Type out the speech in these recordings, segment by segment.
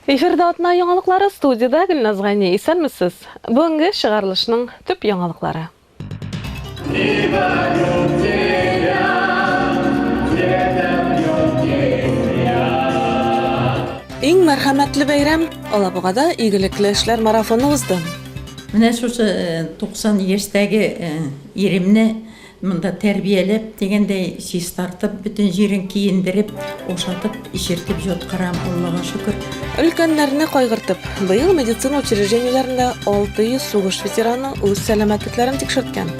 Эфирда атна яңалыклары студиядә Гөлназ Гани. Исәнмесез. Бүгенге чыгарылышның төп яңалыклары. Иң мәрхәмәтле бәйрәм Алабугада игелекле эшләр марафоны узды. Менә шушы 90 яшьтәге иремне Монда тәрбияләп, дигәндәй, чистартып, бөтен җирен киендереп, ашатып, эчертеп җоткырам, Аллага шөкер. Өлкәннәрне кайгыртып, быел медицина учреждениеләрендә 600 сугыш ветераны үз сәламәтлекләрен тикшерткән.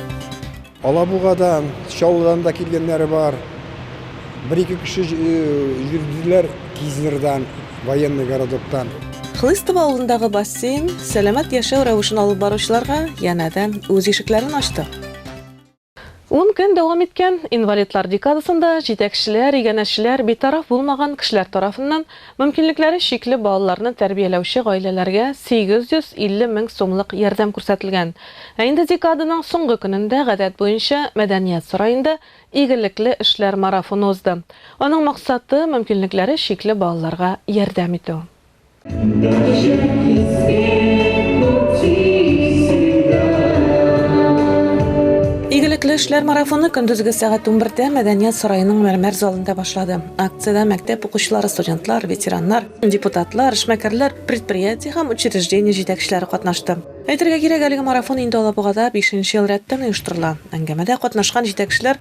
Алабугадан, Чаллыдан да килгәннәре бар. Бер-ике кеше йөрделәр Кизнердан, Военный городоктан. Хлыстово авылындагы бассейн сәламәт яшәү рәвешен алып баручыларга янәдән үз ишекләрен ачты. Ун көн дәвам иткән инвалидлар декадасында җитәкчеләр, иганәчеләр, битараф булмаган кешеләр тарафыннан мөмкинлекләре чикле балаларны тәрбияләүче гаиләләргә 850 мең сумлык ярдәм күрсәтелгән. Ә инде декаданың соңгы көнендә, гадәт буенча, Мәдәният сараенда игелекле эшләр марафоны узды. Аның максаты, мөмкинлекләре чикле балаларга ярдәм итү. Игелекле эшләр марафоны көндезге сәгать 11-дә Мәдәният сараеның мәрмәр залында башлады. Акциядә мәктәп укучылары, студентлар, ветераннар, депутатлар, эшмәкәрләр, предприятие һәм учреждение җитәкчеләре катнашты. Әйтергә кирәк, әлеге марафон инде Алабугада 5 нче ел рәттән оештырыла. Әңгәмәдә катнашкан җитәкчеләр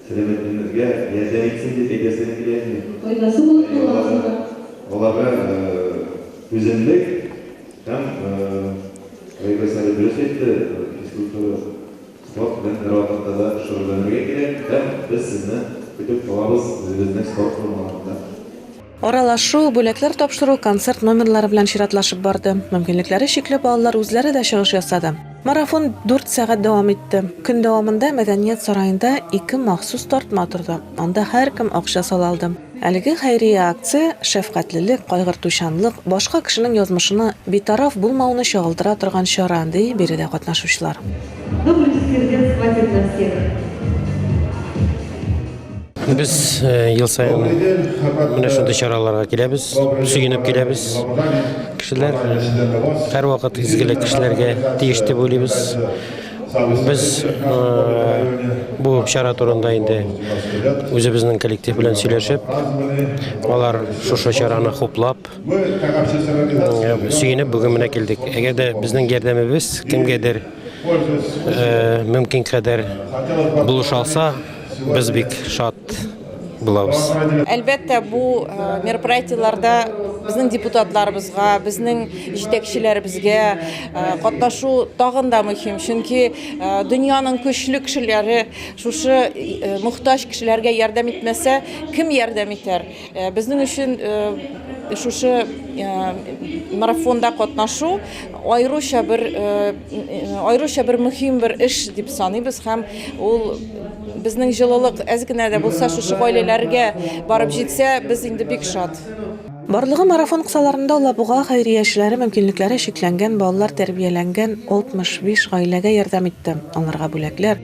Сәламәтлегебезгә ләззә итсен дип әйтәсем килә иде. Файдасы булып калган сыман. Аларга түземлек һәм Айгөл Салих дөрес әйтте, физкультура, спорт белән бервакытта да шөгыльләнергә кирәк һәм без сезне көтеп калабыз үзебезнең спорт формаларында. Аралашу, бүләкләр тапшыру, концерт номерлары белән чиратлашып барды. Мөмкинлекләре чикле балалар үзләре дә чыгыш ясады. Марафон дүрт сәгать дәвам итте. Көн дәвамында Мәдәният сараенда ике махсус тартма торды, анда һәркем акча сала алды. Әлеге хәйрия акция шәфкатьлелек, кайгыртучанлык, башка кешенең язмышына битараф булмауны чагылдыра торган чара, ди биредә катнашучылар. Добрый сердец хватит на всех. Без ел саен менә шундый чараларга киләбез, сөенеп киләбез. Кешеләр һәрвакыт изгелек кешеләргә тиеш дип уйлыйбыз. Без бу чара турында инде үзебезнең коллектив белән сөйләшеп, алар шушы чараны хуплап, сөенеп бүген менә килдек. Әгәр дә безнең ярдәмебез кемгәдер мөмкин кадәр булыша алса, Без бик шат булабыз. Әлбәттә, бу э, мероприятиеләрдә безнең депутатларыбызга, безнең җитәкчеләребезгә э, катнашу тагын да мөһим, чөнки э, дөньяның көчле кешеләре шушы мохтаҗ кешеләргә ярдәм итмәсә, кем ярдәм итәр? Безнең өчен шушы марафонда катнашу аеруча бер аеруча бер мөһим бер эш дип саныйбыз һәм ул безнең җылылык әз генә дә булса шушы гаиләләргә барып җитсә, без инде бик шат. Барлыгы марафон кысаларында Алабуга хәйрия эшләре мөмкинлекләре чикләнгән балалар тәрбияләнгән 65 гаиләгә ярдәм итте, аларга бүләкләр,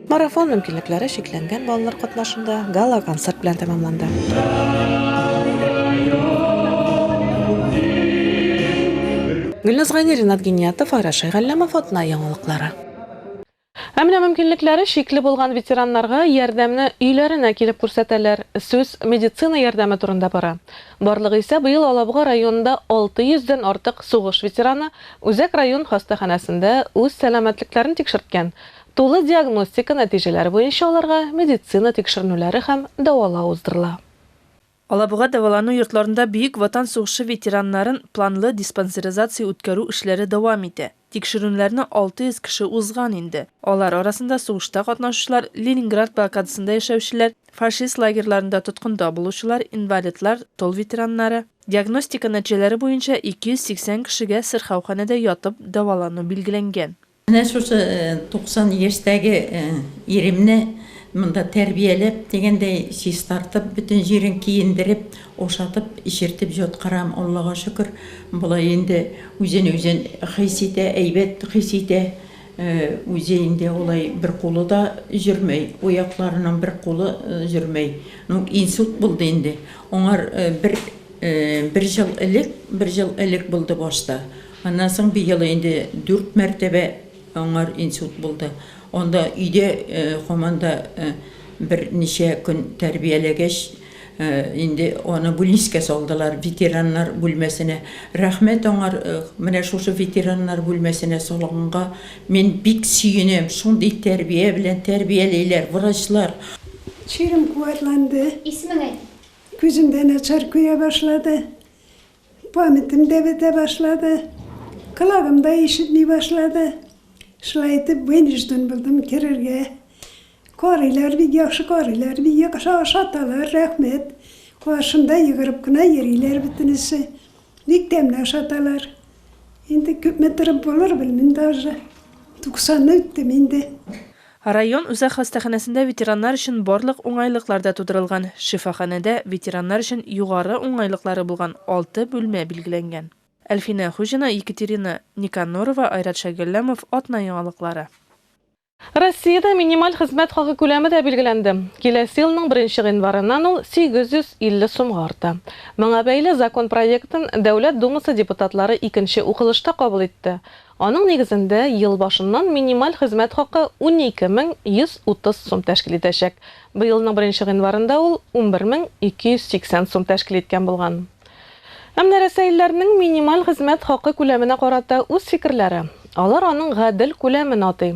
Марафон мөмкинлекләре чикләнгән балалар катнашында гала-концерт белән тәмамланды. Гөлназ Гайни, Ринат Гиниятов, Айрат Шәйгалләмов, Атна яңалыклары. Ә менә мөмкинлекләре чикле булган ветераннарга ярдәмне өйләренә килеп күрсәтәләр. Сүз медицина ярдәме турында бара. Барлыгы исә быел Алабуга районында 600 дән артык сугыш ветераны Үзәк район хастаханәсендә үз сәламәтлекләрен тикшерткән. Тулы диагностика нәтиҗәләре буенча аларга медицина тикшеренүләре һәм дәвалау уздырыла. Алабуга дәвалану йортларында Бөек Ватан сугышы ветераннарын планлы диспансеризация үткәрү эшләре дәвам итә. Тикшерүнләрне 600 кеше узган инде. Алар арасында сугышта катнашучылар, Ленинград блокадасында яшәүчеләр, фашист лагерьларында тоткында булучылар, инвалидлар, тыл ветераннары. Диагностика нәтиҗәләре буенча 280 кешегә сырхауханәдә ятып дәвалану билгеләнгән. Менә шушы 90 яшьтәге иремне монда тәрбияләп, дигәндәй, чистартып, бөтен җирен киендереп, ашатып, эчертеп җаткырам. Аллага шөкер, болай инде үзен үзе хис итә, әйбәт хис итә. Үзе инде алай бер кулы да җөрмәй, уякларының бер кулы җөрмәй. Ну, инсульт булды инде. Аңар бер бер ел элек, бер ел элек булды башта. Аннан соң быел инде дүрт мәртәбә аңар инсульт булды. Анда өйдә һаман да берничә көн тәрбияләгәч, инде аны бүлнискә салдылар, ветераннар бүлмәсенә. Рәхмәт аңар, менә шушы ветераннар бүлмәсенә салганга мин бик сөенәм, шундый тәрбия белән тәрбиялиләр врачлар. Чирем куәтләнде. Исемен әйт. Күзем дә начар күрә башлады. Памятым да бетә башлады, колагым да ишетми башлады. Шулай итеп, вынужден булдым керергә. Карыйлар бик яхшы карыйлар, бик яхшы ашаталар, рәхмәт. Каршымда егырып кына йөриләр бөтенесе. Бик тәмле ашаталар. Инде күпме торып булыр, белмим даже. Туксанны үттем инде. Район үзәк хастаханәсендә ветераннар өчен барлык уңайлыклар да тудырылган. Шифаханәдә ветераннар өчен югары уңайлыклары булган алты бүлмә билгеләнгән. Әлфинә Хуҗина, Екатерина Никанорова, Айрат Шәйгалләмов, Атна яңалыклары. Россиядә минималь хезмәт хакы күләме дә билгеләнде. Киләсе елның беренче гыйнварыннан ул 850 сумга арта. Моңа бәйле закон проектын Дәүләт Думасы депутатлары икенче укылышта кабул итте. Аның нигезендә, ел башыннан минималь хезмәт хакы унике мең 130 сум тәшкил итәчәк. Быелның беренче гыйнварында ул унбер мең 280 сум тәшкил иткән булган. Ә менә рәсәилләрнең минималь хезмәт хакы күләменә карата үз фикерләре. Алар аның гадел күләмен атый.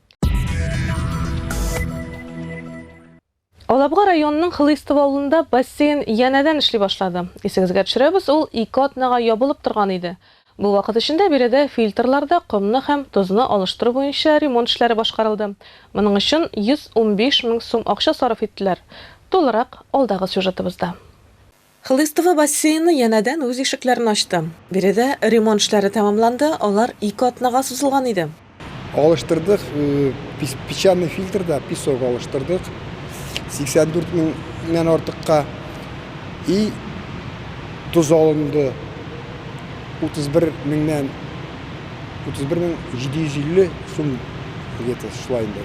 Алабуга районының Хлыйстов авылында бассейн янәдән эшли башлады. Исегезгә төшерәбез, ул ике атнага ябылып торган иде. Бу вакыт эчендә биредә фильтрларда комны һәм тозны алыштыру буенча ремонт эшләре башкарылды. Моның өчен 115 мең сум акча сарыф иттеләр. Тулырак, алдагы сюжетыбызда. Хлыстово бассейны янәдән үз ишекләрен ачты. Биредә ремонт эшләре тәмамланды, алар ике атнага сузылган иде. Алыштырдык, песчаный фильтр да, песок алыштырдык, 84 меңнән артыкка. И тоз алынды, 31 меңнән, 31 мең 750 сум, где то шулай инде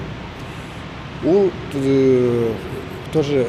ул. Ул тоже.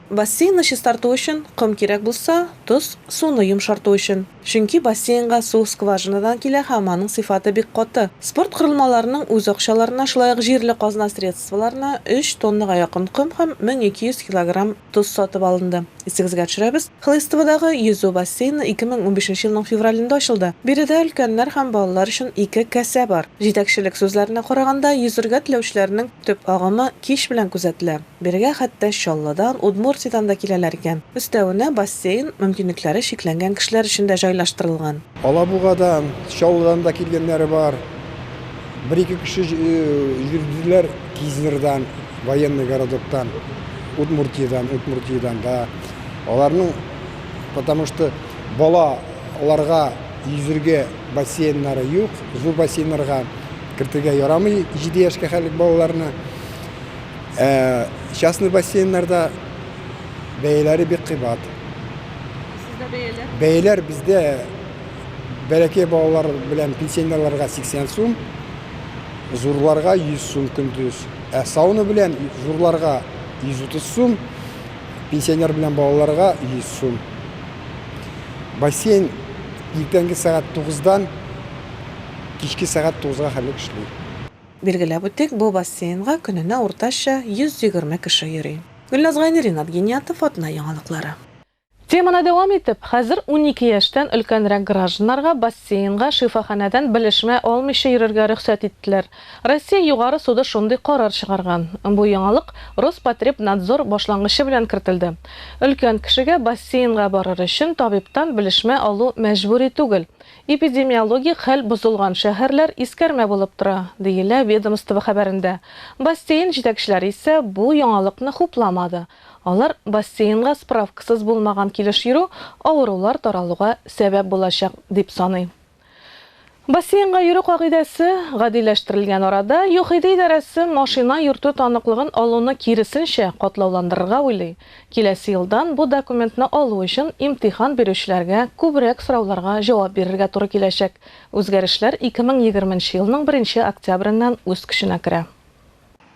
Бассейнны чистарту өчен ком кирәк булса, тоз, суны йомшарту өчен. Чөнки бассейнга су скважинадан килә һәм аның сыйфаты бик каты. Спорт корылмаларының үз акчаларына, шулай ук җирле казна средстволарына өч тоннага якын ком һәм 1200 килограмм тоз сатып алынды. Исегезгә төшерәбез, Хлыстоводагы йөзү бассейны 2015 елның февралендә ачылды. Биредә өлкәннәр һәм балалар өчен ике кәсә бар. Җитәкчелек сүзләренә караганда, йөзергә теләүчеләрнең төп агымы кич белән күзәтелә. Бирегә хәтта Чаллыдан, Удмуртиядән дә киләләр икән. Өстәвенә, бассейн мөмкинлекләре чикләнгән кешеләр өчен дә җайлаштырылган. Алабугадан, Чаллыдан да килгәннәре бар. Бер-ике кеше йөрделәр Кизнердан, Военный городоктан, Удмуртиядән, Удмуртиядән да. Аларның, потому что балаларга йөзергә бассейннары юк, зур бассейннарга кертергә ярамый җиде яшькә хәлек балаларны. Ә частный бассейннарда бәяләре бик кыйбат. Сездә бәяләр? Бәяләр бездә бәләкәй балалар белән пенсионерларга 80 сум, зурларга 100 сум көндез. Ә сауна белән зурларга 130 сум, пенсионер белән балаларга 100 сум. Бассейн иртәнге сәгать 9-дан кичке сәгать 9-га хәтлек эшли. Билгеләп үтик, бу бассейнга көненә уртача 120 кеше йөри. Гөлназ Гайнери, Ринат Гиниятов, Атна яңалыклары. Теманы дәвам итеп, хәзер унике яшьтән өлкәнрәк гражданнарга бассейнга шифаханәдән белешмә алмыйча йөрергә рөхсәт иттеләр. Россия Югары суды шундый карар чыгарган. Бу яңалык Роспотребнадзор башлангычы белән кертелде. Өлкән кешегә бассейнга барыр өчен табибтан белешмә алу мәҗбүри түгел. Эпидемиологик хәл бозылган шәһәрләр искәрмә булып тора, диелә ведомство хәбәрендә. Бассейн җитәкчеләре исә бу яңалыкны хупламады. Алар бассейнга справкасыз булмаган килеш йөрү авырулар таралуга сәбәп булачак, дип саный. Бассейнга йөрү кагыйдәсе гадиләштерелгән арада, ЮХИДИ идарәсе машина йөртү таныклыгын алуны киресенчә катлауландырырга уйлый. Киләсе елдан бу документны алу өчен имтихан бирүчеләргә күбрәк сорауларга җавап бирергә туры киләчәк. Үзгәрешләр 2020 нче елның беренче октябреннән үз көченә керә.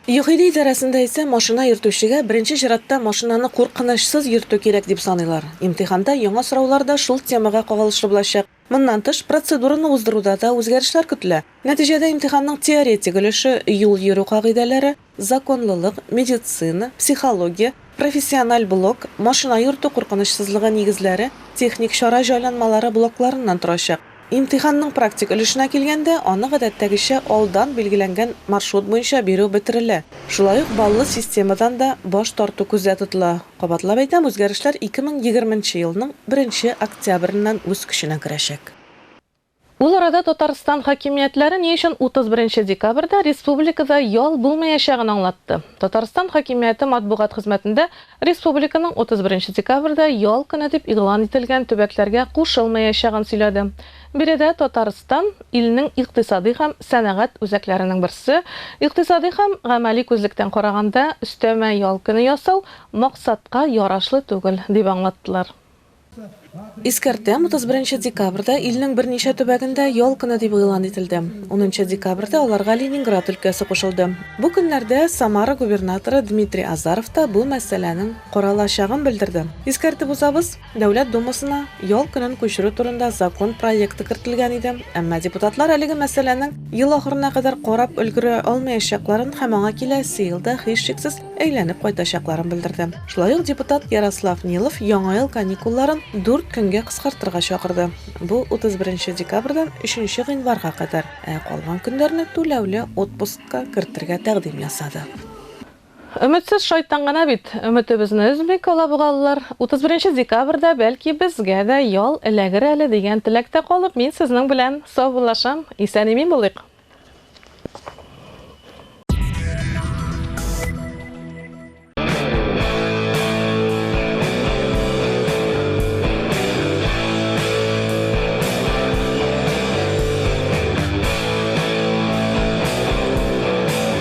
ЮХИДИ идарәсендә исә машина йөртүчегә беренче чиратта машинаны куркынычсыз йөртү кирәк дип саныйлар. Имтиханда яңа сораулар да шул темага кагылышлы булачак. Моннан тыш, процедураны уздыруда да үзгәрешләр көтелә. Нәтиҗәдә имтиханның теоретик өлеше юл йөрү кагыйдәләре, законлылык, медицина, психология, профессиональ блок, машина йөртү куркынычсызлыгы нигезләре, техник чара җайланмалары блокларыннан торачак. Имтиханның практик өлешенә килгәндә, аны гадәттәгечә алдан билгеләнгән маршрут буенча бирү бетерелә. Шулай ук баллы системадан да баш тарту күздә тотыла. Кабатлап әйтәм, үзгәрешләр 2020 нче елның беренче октябреннән үз көченә керәчәк. Ул арада Татарстан хакимиятләре ни өчен 31 декабрьдә республикада ял булмаячагын аңлатты. Татарстан хакимияте матбугат хезмәтендә республиканың 31 декабрьдә ял көне дип игълан ителгән төбәкләргә кушылмаячагын сөйләде. Биредә Татарстан, илнең икътисадый һәм сәнәгать үзәкләренең берсе, икътисадый һәм гамәли күзлектән караганда, өстәмә ял көне ясау максатка ярашлы түгел, дип аңлаттылар. Искәртәм, 31 декабрьдә илнең берничә төбәгендә ял көне дип игълан ителде. Унынчы декабрьдә аларга Ленинград өлкәсе кушылды. Бу көннәрдә Самара губернаторы Дмитрий Азаров та бу мәсьәләнең каралачагын белдерде. Искәртеп узабыз. Дәүләт Думасына ял көнен күчерү турында закон проекты кертелгән иде, әмма депутатлар әлеге мәсьәләнең ел ахырына кадәр карап өлгерә алмаячакларын һәм аңа киләсе елда һичшиксез әйләнеп кайтачакларын белдерде. Шулай ук депутат Ярослав Нилов Яңа ел каникулларын дүрт көнгә кыскартырга чакырды, бу 31 декабрьдән 3 гыйнварга кадәр, ә калган көннәрне түләүле отпускка кертергә тәкъдим ясады. Өметсез шайтан гына бит, өметебезне өзми кала бу галлар. Утыз беренче декабрьдә, бәлки, безгә дә ял эләгер әле дигән теләктә калып, мин сезнең белән саубуллашам. Исән-имин булыйк!